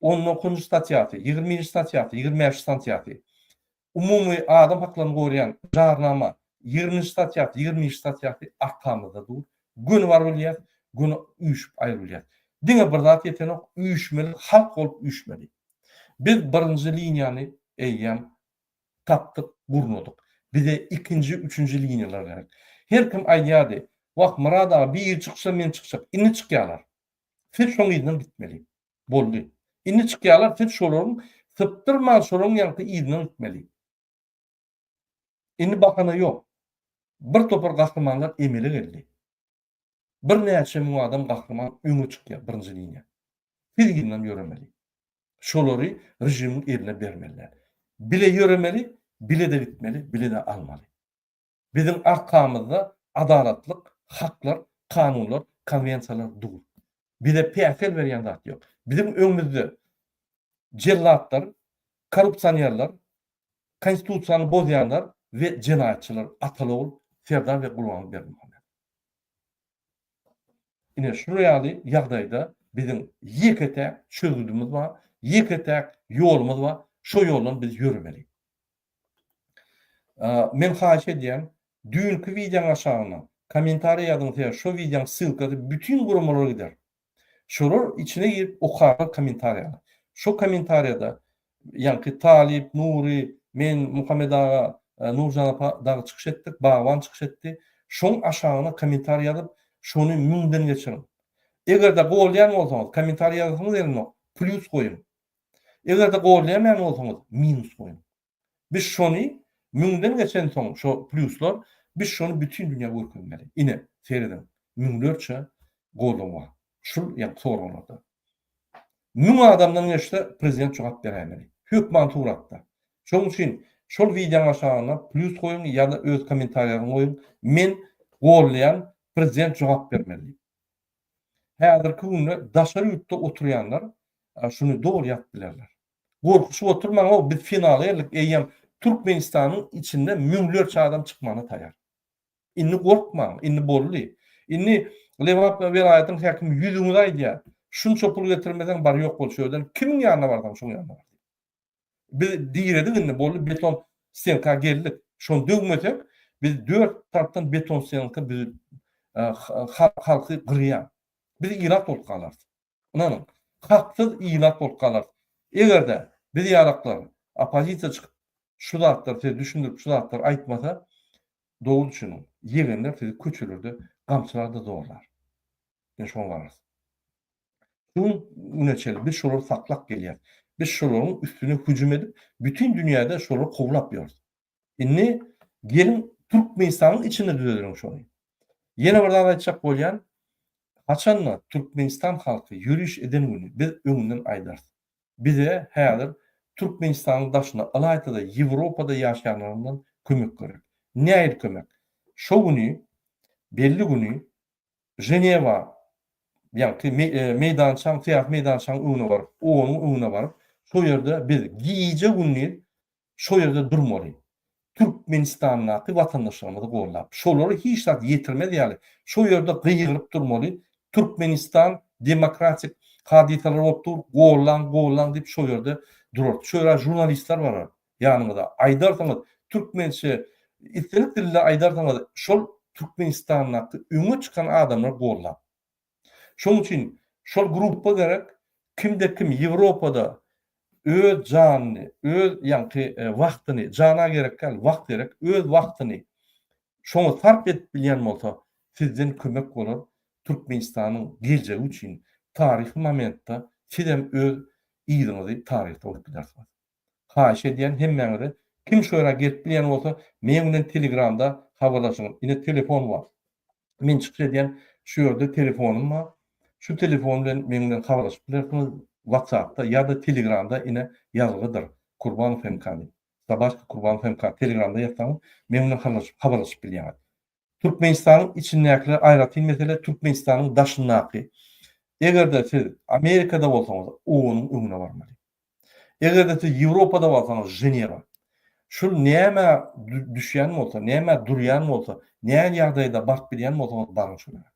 S1: On dokuzynjy statýasy, ýigriminji statýasy, ýigrimi bäşinji stansiýasy, Umumy adam haklaryny goraýan Jarnama, ýigriminji statýasy, ýigrimi birinji statýasy arkamyzda dur. Göni bar bilýäs, göni üýşüp aýry bilýäs. Diňe bir zat ýetenok, üýşmeli halk bolup üýşmeli. Biz birinji liniýany eýýäm tapdyk, gurnadyk. Bize ikinji, üçünji liniýalar gerek. Her kim aýdýardy, Wah, Myrad aga, biri çyksa men çykjak. Indi çykýarlar. Siz şoň yzyndan gitmeli. Boldy. Indi çykýarlar, siz şolaryň sypdyrman şolaryň ýaňky yzyna gitmeli. Indi bahana ýok. Bir topar gahrymanlar emele geldi. Birnäçe müň adam gahryman öňe çykýar birinji liniýa. Siz yzyndan ýöremeli. Şolary režimiň eline bermeliler. Bile ýöremeli, bile-de gitmeli, bile-de almaly. Biziň arkamyzda adalatlyk, haklar, kanunlar, konwensiýalar dur. Bize päsgel berýän zat ýok. Biziň öňümizde jellatlar, korrupsionerler, konstitusiýany bozýanlar we jenaýatçylar Atalogul, Serdar we Gurbanguly Berdimuhamedow. Ine şu ýaly ýagdaýda biziň ýeke-täk çözgüdimiz bar, ýeke-täk ýolumyz bar, şo ýoldan biz ýöremeli. Men haýyş edýän düýnki wideoň aşagyna kommentariý ýazyň sebäbi şo wideoň ssylkasy bütin guramalara gider. Şolar içine girip okarlar kommentariýany. Şo kommentariýada ýaňky Talyp, Nury, men, Muhammet aga, Nurjan apa dagy çykyş etdik, Bagban çykyş etdi. Şoň aşagyna kommentariý ýazyp şony müňden geçiriň. Egerde golýan bolsaňyz kommentariý ýazasyňyz gelenok plýus goýuň. Eger-de golleýämän bolsaňyz, minus goýuň. Biz şony müňden geçensoň, şo plýuslar, biz şony bütin dünýä görkezmeli. Ine, serediň, müňlerçe gollan bar. Şul ýaňky soraglarda. Müň adamdan geçse, prezident jogap beräýmeli. Hökman suratda. Şonuň üçin şol wideoň aşagyna plýus goýuň ýa-da öz kommentariýaňyzy goýuň, Men golleýan, prezident jogap bermeli diýip. Häzirki günde daşary ýurtda oturýanlar şuny doly ýatyp bilerler. Gorkuşyp oturmaň-ow, biz finala geldik, eýýäm Türkmenistanyň içinde müňlerçe adam çykmana taýar. Indi gorkmaň, indi boldy. Indi Lebap welaýatynyň häkimi ýüzüňize aýdýar, şunça pul getirmeseň, bar-ýok bol şu ýerden, kimiň ýanyna barsaň, şoň ýanyna bar diýip. Biz diredik indi boldy beton stenka geldik. Şony döwmesek biz dört tarapdan beton stenka düzüp halky gyrýar. Biz ilat bolup galarys. Ynanyň. Haksyz ilat bolup galarys. Egerde biz ýalaklar oppozisiýa çykyp şu zatlar size düşündirip şu zatlar aýtmasa dogry düşüniň. Ýegenler sizi köçelerde gamçylar-da zorlar. Ýa şoňa galarys. Şu güne çenli biz şolary saklap gelýäris. Biz şolaryň üstüne hüjüm edip, bütin dünýäde şolary kowlap ýörüs. Indi geliň, Türkmenistanyň içinde düzedeliň şony. Ýene bir zat aýtjak bolýan, haçan-da Türkmenistan halky ýöriş eden güni biz öňünden aýdarys. Bize häzir Türkmenistanyň daşynda, ylaýta-da Ýewropada ýaşaýanlaryndan kömek gerek. Nähili kömek? Şo güni, belli güni Ženewa ýagty meýdançaň, syýasy meýdançaň öňüne baryp, onuň öňüne baryp, şo ýerde biz gije-gündiz şo ýerde durmaly. Türkmenistandaky watandaşlarymyzy gollap, şolary hiç zat ýetirmez ýaly, şo ýerde gygyryp durmaly, Türkmenistan demokratik hadysalar bolup dur, gollaň, gollaň diýip şo ýerde durardy. Şo ýerde žurnalistler barar. ýanyňyza aýdarsyňyz türkmençe islendik dilde aýdarsyňyz şol türkmenistandaky öňe çykan adamlar gollap şoň üçin şol gruppa gerek kimde kim ýewropada öz janyny öz ýaňky wagtyny jana gerek däl wagt gerek öz wagtyny şoňa sarp edip bilýän bolsa sizden kömek bolar türkmenistanyň geljegi üçin taryhy momentde sizem öz yzyňyzy taryhda goýup gidersiňiz. Haýyş edýän hemmäňize kim şu ýere gelip bilýän bolsa meň bilen telegramda habarlaşyň ine telefon bar men çykyş edýän şu ýerde telefonym bar şu telefon bilen meň bilen habarlaşyp bilersiňiz watsapda ýada telegramda ine ýazgydyr Kurbanov MK diýip Sabaşki Kurbanov MK telegramda ýazsaňyz meň bilen habarlaşyp habarlaşyp bilýäňiz Türkmenistanyň içindäkiler aýratyn mesele, Türkmenistanyň daşyndaky. Eger-de siz Amerikada bolsaňyz, OON-yň öňüne barmaly. Eger-de siz Ýewropada barsaňyz, Ženewa. Şul nämä düşýän bolsa, nämä durýan bolsa, näl ýagdaýda baryp bilýän bolsaňyz, baryň şolara.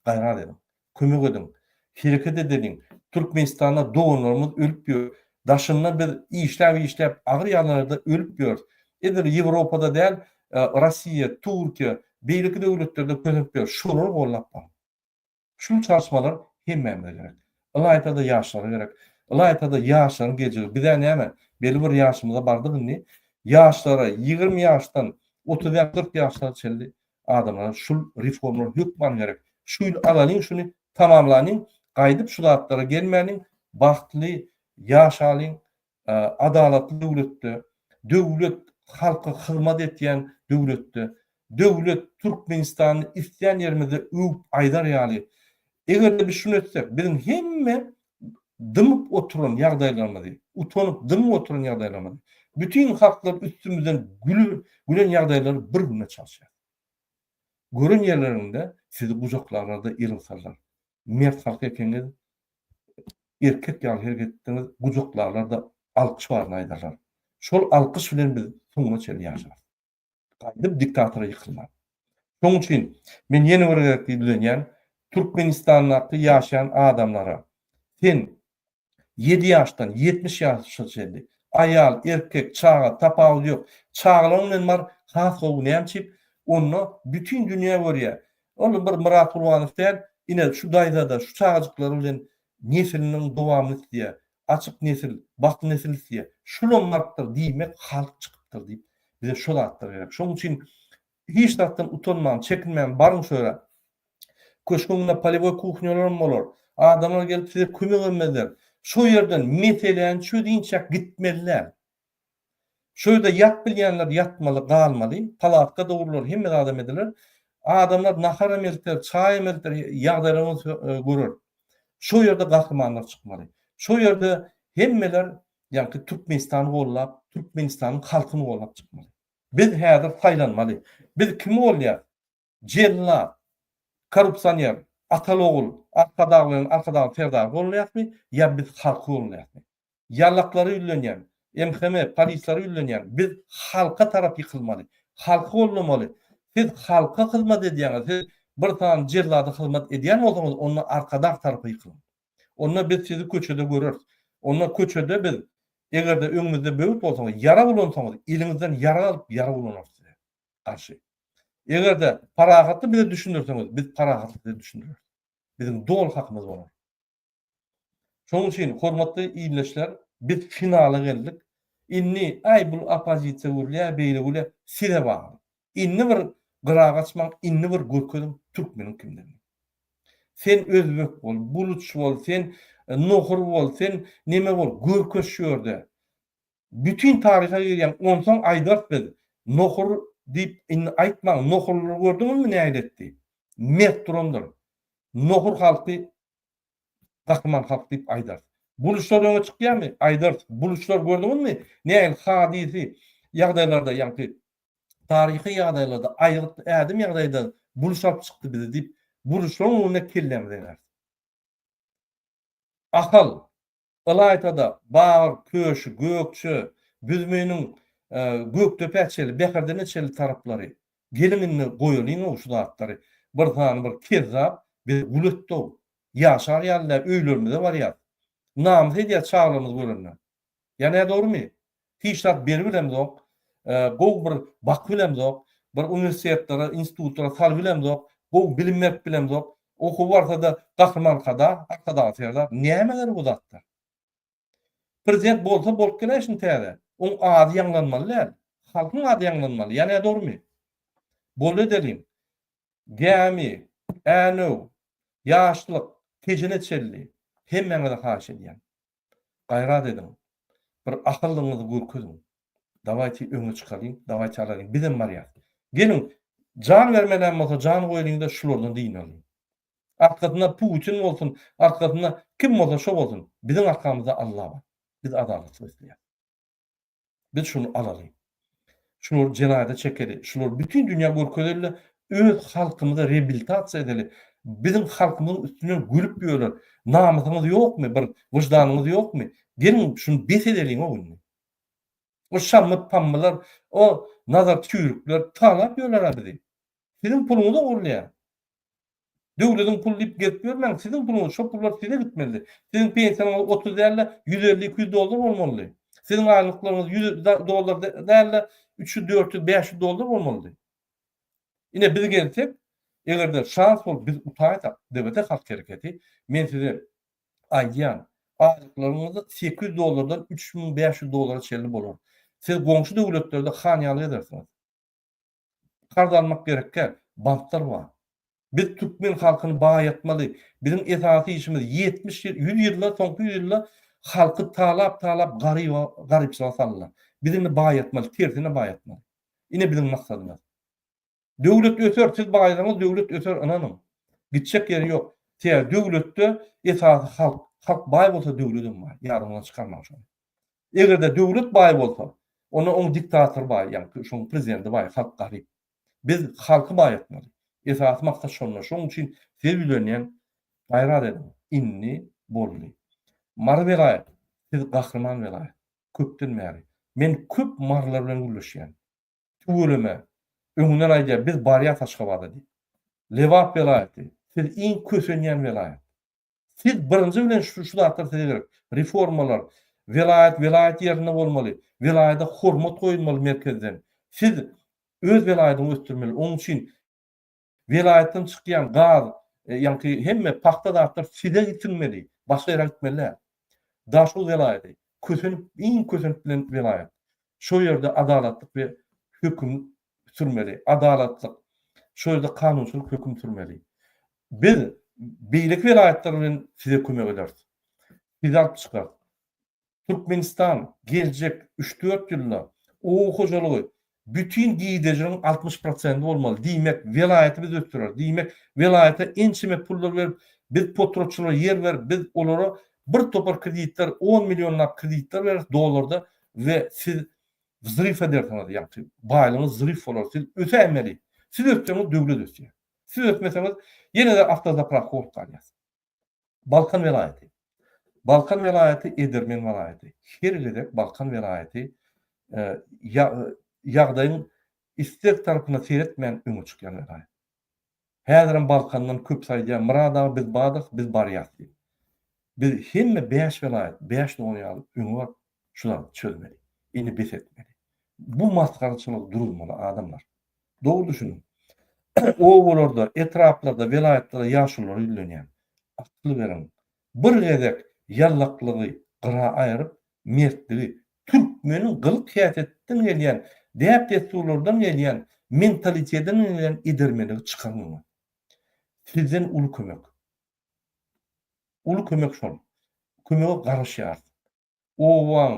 S1: Gaýrat ediň. Kömek ediň. Hereket edeliň. Türkmenistanda doganlarymyz ölüp ýör. Daşynda biz işläp işläp agyr ýagdaýlarda ölüp ýörüs. Edil Ýewropada däl Rossiýa, Türkiýe, beýleki döwletlerde kösenip ýörüs. Şolary gollap baryň. Şu çalyşmalar hemmämize gerek. Ylaýta-da ýaşlara gerek. Ylaýta-da ýaşlaryň geljegi. Bizä näme, belli bir ýaşymyza bardyk indi. Ýaşlara, ýigrimi ýaşdan otuz bäş, kyrk ýaşlara çenli Adamlara şul reformlar hökman gerek. Şu ýyl alalyň şuny tamamlalyň, gaýdyp şu zatlara gelmäliň, bagtly ýaşalyň, adalatly döwletde, döwlet halka hyzmat etýän döwletde, döwlet Türkmenistany islän ýerimizde öwüp aýdar ýaly. Eger-de biz şuny etsek, biziň hemme dymyp oturan ýagdaýlarymyzy, utanyp dymyp oturan ýagdaýlarymyzy, bütin halklar üstümizden gülen ýagdaýlary bir güne çalşýar. Gören ýerlerinde sizi gujaklarlarda ýylgysarlar. Mert halk ekeniňiz, erkek ýaly hereket etdiňiz, gujaklarlarda alkyş baryny aýdarlar. Şol alkyş bilen biz soňuna çenli ýaşarys. gaýdyp diktatora ýykylman. Şoň üçin men ýene bir gezek ýüzlenýän Türkmenistandaky ýaşaýan adamlara, sen ýedi ýaşdan ýetmiş ýaşa çenli, aýal, erkek, çaga, tapawudy ýok, çagalaň bilen bar, has gowy näme üçin, onda bütin dünýä görýä, ol bir Myrat Gulbanow däl, ine şu daýza-da şu çagajyklar bilen nesiliniň dowamyny isleýä, Açyk nesil, baky nesil isleýär. Şulam martdyr diýmek halk çykypdyr diýip, bize şo zatlar gerek. Şonuň üçin hiç zatdan utanman, çekinmän baryň şu ýere. Köşgüň ýanynda polewoý kuhnyalaram bolar. Adamlar gelip size kömek emezler. Şo ýerden meseläni çözýinçäk gitmeliler. Şu ýerde ýat bilýänler ýatmaly, galmaly. Palatka dogrular, hemme zadam ediler. Adamlar naharam elter, çaýam elter, ýagdaýlaryňyz görer. Şo ýerde gahrymanlar çykmaly. Şo ýerde hemmeler ýagny Türkmenistany gollap, Türkmenistanyň halkyny gollap çykmaly. Biz häzir saýlanmaly. Biz kim bolýas? Jellat, korrupsioner, Atalogul, Arkadaglaryň Arkadagyň serdary bolunýasmy, ýa biz halky bolunýasmy? Ýallaklary ýüzlenýän, MHM, polislary ýüzlenýän biz halka tarap ýykylmaly, halky gollamaly. Siz halka hyzmat edýäňiz, siz bir sany jellada hyzmat edýän bolsaňyz onda Arkadag tarapa ýykylyň. Onda biz sizi köçede göreris. Onda köçede biz, eger-de öňümizde böwet bolsaňyz, ýarag ulansaňyz, eliňizden ýarag alyp ýarag ulanarys size. garşy. Eger-de parahatly bize düşündirseňiz, biz parahatly size düşündireris. Biziň doly hakymyz bolar. Şonuň üçin, hormatly ildeşler, biz finala geldik. Indi, aý, bul oppozisiýa gürlär, beýle gürlär, size bagly. Indi bir gyra gaçmaň, indi bir görkeziň türkmeniň kimdigini. Sen özbek bol, buluç bol, sen nohur bol, sen neme bol, görkeş şu ýerde. Bütin taryha girýäň onsoň aýdarys biz. Nohur diýip indi aýtmaň nohurlary gördüňizmi nähili etdi. Mert durandyr. Nohur halky gahryman halk diýip aýdarys. Buluçlar öňe çykýamy? Aýdarys. Buluçlar gördüňizmi nähili hadysy ýagdaýlarda ýaňky taryhy ýagdaýlarda aýgyt ädim ýagdaýda buluç alyp çykdy bizi diýip buluçlaryň öňünde kellämizi egeris. Ahal. Ylaýta-da, Bagyr, Köşi, Gökje, Büzmeýiniň Gökdepä çenli, Bäherdenä çenli taraplary. Geliň indi goýalyň-ow şu zatlary. Bir sany bir kezzap bizi gul etdi-ow. Ýaşar ýaly däl, öýlerimize barýas. Namys edýär çaglarymyz görende. Ýa nädogrumy? Hiç zat berip bilemzok. Gowy bir bakyp bilemzok. Bir uniwersitetlere, institutlara salyp bilemzok. Gowy bilim berip bilemzok. Okuw barsa-da Gahryman Kada, Arkadagly Serdar. Näme gerek bu zatlar? Prezident bolsa bolup geler şindi täze. Oň ady ýaňlanmaly däl. Halkyň ady ýaňlanmaly. Ýa nä dogrymy? Boldy edeliň. Gämi, Änew, Ýaşlyk, Tejene çenli hemmäňize haýyş edýän. Gaýrat ediň. Bir ahyllygyňyzy görkeziň. Dawaýti öňe çykalyň, dawaýti alalyň, bizem barýas. Geliň, jan bermelem bolsa jan goýalyň-da şulardan dynalyň. Arkasynda Putin bolsun, arkasynda kim bolsa şo bolsun, biziň arkamyzda Alla bar. Biz adalatlyk isleýäs. Biz şuny alaly. Şular jenaýada çekeli. Şular bütin dünýä görkezeli-de, öz halkymyza rebiltasiýa edeli. Biziň halkymyzyň üstünden gülüp ýöler. Namysyňyz ýokmy, bir wyždanyňyz ýokmy? Geliň, şuny bes edeliň-ow indi. O şammy-pammylar, o nazar çüýrükler talap ýöler-ä bizi. Siziň puluňyzy ogurlaýar. Döwlediň puly diýip gezip ýörmäň, siziň puluňyz, şo pullar size gitmelidi. Siziň pensiýaňyz otuz däl-de, ýüz elli, iki ýüz dollar bolmalydy. Siziň aýlyklaryňyz ýüz dollar däl-de, üç ýüz, dört ýüz, bäş ýüz dollar bolmalydy. Ine, biz gelsek, eger-de şans bolup biz utaýsak, DBT Halk Hereketi, men size aýdýan, aýlyklaryňyz sekiz ýüz dollardan üç müň bäş ýüz dollara çenli bolar. Siz goňşy döwletlerde han ýaly gezersiňiz. Karz almak gerekkä? Banklar bar. Biz türkmen halkyny baýatmaly. Biziň esasy işimiz ýetmiş ýyl, ýüz ýyldan soňky ýüz ýylda halky talap talap garyba garypçylyga saldylar. Biz indi baýatmaly, tersine baýatmaly. Ine biziň maksadymyz. Döwlet öser, siz baýasaňyz döwlet öser ynanyň. Gitjek ýeri ýok. Sebäbi döwletde esasy halk. Halk baý bolsa döwledem baý. Ýadyňyzdan çykarmaň şony. Egerde döwlet baý bolsa, onda oň diktatory baý, ýaňky şoň prezidenti baý, halk garyp. Biz halky baý etmeli. Esasy maksat şonda. Şoň üçin size ýülenýän, gaýrat ediň. Indi boldy. Mary welaýat, siz gahryman welaýat. Köpden bäri. Men köp marylar bilen gürleşýän. Tüweleme, öňünden aýdýar, biz barýas Aşgabada diýip. Lebap welaýaty, siz iň kösenýän welaýat. Siz birinji bilen şu şu zatlar size gerek. Reformalar, welaýat welaýat ýerinde bolmaly, welaýada hormat goýulmaly merkezden. Siz öz welaýatyňy ösdürmeli. Onuň üçin welaýatdan çykýan gaz, e, ýaňky hemme pagta zatlar size gitmeli, başga ýere gitmeli däl. Daşoguz welaýaty kösenip, iň kösenip bilen welaýat. Şo ýerde adalatlyk we höküm sürmeli, adalatlyk, şol ýerde kanunçylyk höküm sürmeli. Biz beýleki welaýatlar bilen size kömek ederis. Sizi alyp çykarys. Türkmenistan geljek üç-dört ýylda oba hojalygy bütin girdejiniň altmyş prosenti bolmaly. Diýmek, welaýaty biz ösdüreris. Diýmek, welaýata ençeme pullar berip, biz potratçylara ýer berip, biz olara birtopar kreditler, on millionlap kreditler bereris dollarda we siz Wzrif edersiňiz ýagty baýlygyňyz wzrif bolar siz ösäýmeli siz ötseňiz döwlet ösýär siz ötmeseňiz ýenede awtozaprakka bolup galýas Balkan welaýaty Balkan welaýaty edermen walaýaty her gezek Balkan welaýaty ýagdaýyň istek tarapyna seretmän öňe çykýan welaýat. Häzirem Balkandan köpüsi aýdýar, Myrat aga biz bardyk, biz barýas diýip. Biz hemme bäş welaýat, bäş dogan ýaly öňe baryp şu zatlary çözmeli. Indi bes etmeli. Bu masgaraçylygy duruzmaly adamlar. Dogry düşüniň. Obalarda, etraplarda, welaýatlarda ýaşululary ýüzlenýän. Akyl beriň. Bir gezek ýallaklygy gyra aýryp, mertligi, türkmeniň gylyk-häsiýetinden gelýän, däp-dessurlardan gelýän, mentalitetinden gelýän edermenligi çykaň öňe. Sizden uly kömek. Uly kömek şol. Kömege garaşýarys. obaň,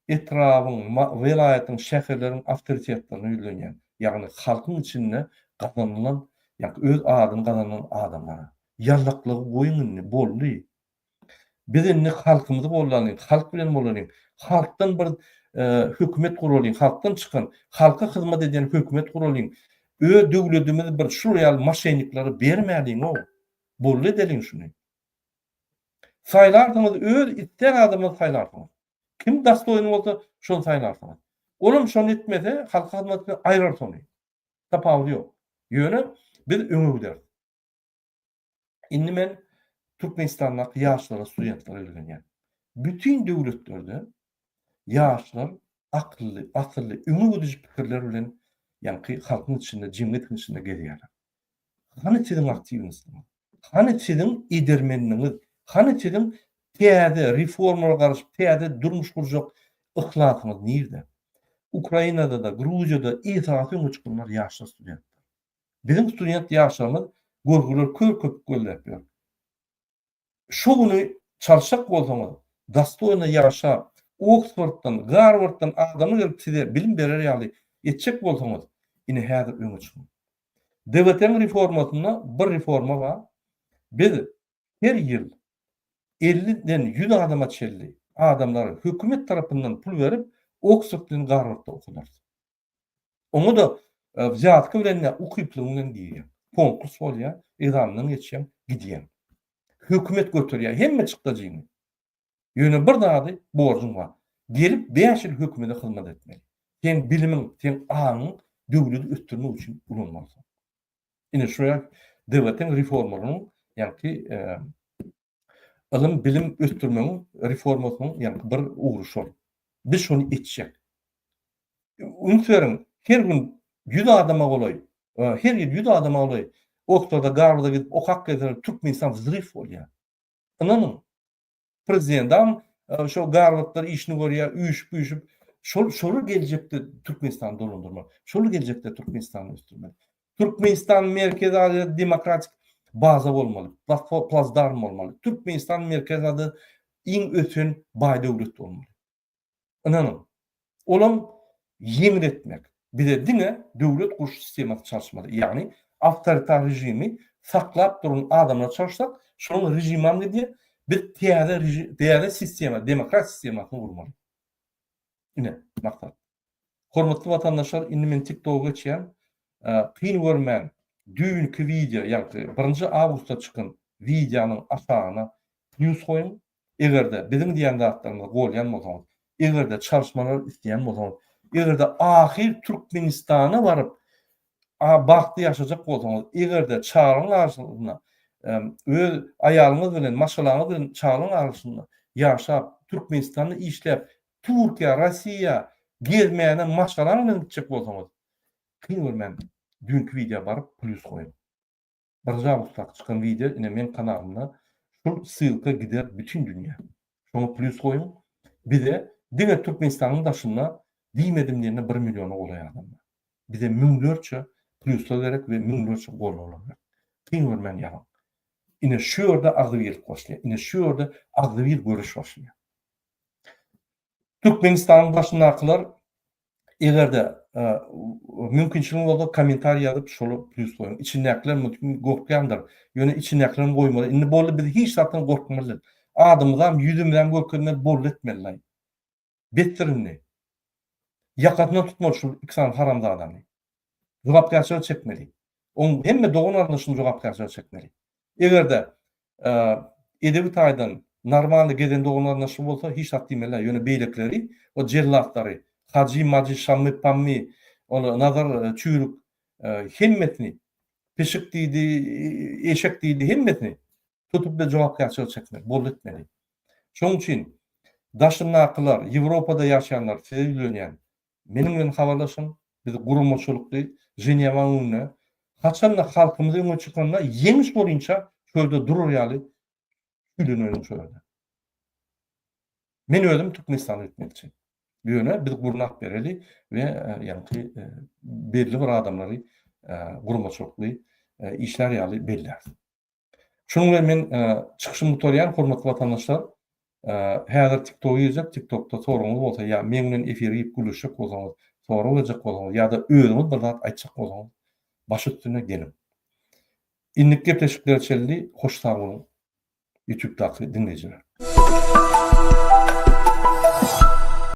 S1: etrabyň, welaýatyň, şäherleriň awtoritetlerine ýüzlenýän, ýagny halkyň içinde gazanylan, ýa öz adyny gazanan adamlara. Ýallaklygy goýuň indi, boldy. Biz indi halkymyzy gollalyň, halk bilen bolalyň, halkdan bir hökümet guralyň, halkdan çykan, halka hyzmat edýän hökümet guralyň, öz döwledimizi bir şular ýaly maşenniklere bermäliň-ow. Boldy edeliň şuny. Saýlarsyňyz, öz islän adamyňyzy saýlarsyňyz. Kim dastoýin bolsa, şony saýlarsyňyz. Olam şony etmese, halka hyzmat etmese, aýrar şony. Tapawudy ýok. Ýöne biz öňe gideris. Indi men Türkmenistandaky ýaşlara, studentlara ýüzlenýän. Bütin döwletlerde ýaşlar akylly, asylly, öňe gidiji pikirler bilen ýaňky halkyň içinde, jemgyýetiň içinde gezýärler. Hany siziň aktiwnostyňyz? Hany siziň edermenligiňiz? Hany siziň täze reformala garaşyp täze durmuş gurjak yhlasyňyz nirde? Ukrainada-da, Gruziýada esasy öňe çykanlar ýaşlar studentler. Biziň student ýaşlarymyz görgüler kör köpük gözläp ýör. Şu güni çalşak bolsaňyz, dostoýno ýaşap, Oksforddan, Garwarddan adamy gelip size bilim berer ýaly etjek bolsaňyz, ine häzir öňe çykyň. DWT-niň reformasynda bir reforma bar, biz her ýyl elli den ýüz adama çenli adamlary hökümet tarapyndan pul berip, Oksford bilen Garwardda okadarys. Oňa-da wzýatka bilen-ä ukyplygyň bilen girýäň. Konkurs bolýar, egzamenden geçýäň, gidýäň. Hökümet göterýär hemme çykdajyňy. Ýöne bir zady, borjuň bar. Gelip bäş ýyl hökümete hyzmat etmeli. Seň bilimiň, seň aňyň döwleti ösdürmek üçin ulanmalysyň. Ine, şular DWT-niň reformalarynyň, ýagny, ylym-bilim ösdürmegiň reformasynyň ýaňky bir ugry şol. Biz şony etjek. Üns beriň, her gün ýüz adama golaý, her ýyl ýüz adama golaý Oksforda, Garwarda gidip okap gelseler, Türkmenistan wzryw bolýar. Ynanyň, prezidentam şo Garwardlar işini görýär, üýşüp-üýşüp, şol şolar geljekde Türkmenistany dolandyrmak, şolar geljekde Türkmenistany ösdürmek. Türkmenistan Merkezi Aziýada demokratik baza bolmaly, platform, plazdarm bolmaly. Türkmenistan Merkezi Aziýada iň ösen baý döwlet bolmaly. Ynanyň, olam ýeňil etmek. Bize diňe döwlet guruş sistemasy çalyşmaly. Ýagny awtoritar režimi saklap duran adamlar çalyşsak, şonuň režimam gidýär. Biz täze täze sistema, demokrat sistemasyny gurmaly. Ine, maksat. Hormatly watandaşlar indi men tiktogy geçýän kyn görmäň düýnki wideo ýagty birinji awgustda çykan wideonyň aşagyna pljus goýuň egerde biziň diýän zatlarymyzy golýan bolsaňyz egerde çalyşmalary isleýän bolsaňyz egerde ahyr türkmenistana baryp a bagtly ýaşajak bolsaňyz egerde çaglaryň arasynda öz aýalyňyz bilen maşgalaňyz bilen çaglaryň arasynda ýaşap türkmenistanda işläp Türkiýä, Rossiýa gezmäne maşgalaň bilen gitjek bolsaňyz, kyn görmän düýnki wideo baryp plýus goýuň. Birinji awgustdaky çykan wideo ine meň kanalymda şul ssylka gider bütin dünýä. Şoňa plýus goýuň. Bize diňe Türkmenistanyň daşynda diýmedim diýende bir milliona golaý adam bar. Bize müňlerçe plýuslar gerek we müňlerçe goldawalar gerek. Kyn görmän ýazyň. Ine şu ýerde agzybirlik başlaýar. Ine şu ýerde agzybir göreş başlaýar. Türkmenistanyň başyndakylar egerde mümkinçiligiňiz bolsa komentariý ýazyp şoly plýus goýuň. Içindäkiler mümkin gorkýandyr. Ýöne içindäkileriň goýmaly. Indi boldy biz hiç zatdan gorkmalydyr. Adymyzam ýüzümizem görkezmeli boldy etmelilaý. Besdir indi. Ýakasyndan tutmaly şu iki sany haramzadany. Jogapkärçilige çekmeli. Oň hemme dogan-garyndaşyny jogapkärçilige çekmeli. Egerde edebi taýdan normalny gezen doganlaryna şu bolsa hiç zat diýmelä ýöne beýlekileri o jellatlary hajy majy şammy pammy ol nazar çüýrük hemmesini pişik diýdi eşek diýdi hemmesini tutup bir jogapkärçilik çekmeli boldy etmeli şoň üçin daşyndakylar ýewropada ýaşaýanlar size ýüzlenýän Meniň bilen habarlaşyň, biz guramaçylykly Ženewa öňünde, haçan-da halkymyz öňe çykanda ýeňiş boýunça çölde durar ýaly küýleneliň şolerde. Men özüm Türkmenistana gitmekçi. Ýöne biz gurnap bereli we ýaňky belli bir adamlary guramaçylykly işlär ýaly belläris. Şunuň bilen men çykyşymy gutarýan, hormatly watandaşlar. Häzir TikTok girjek, TikTokda soragyňyz bolsa ýa meň bilen efir girip gürleşjek bolsaňyz, sorag berjek bolsaňyz ýa-da özüňiz bir zat aýtjak bolsaňyz baş üstüne geliň. Indiki gepleşiklere çenli hoş sag boluň ýutubdaky diňleýjiler.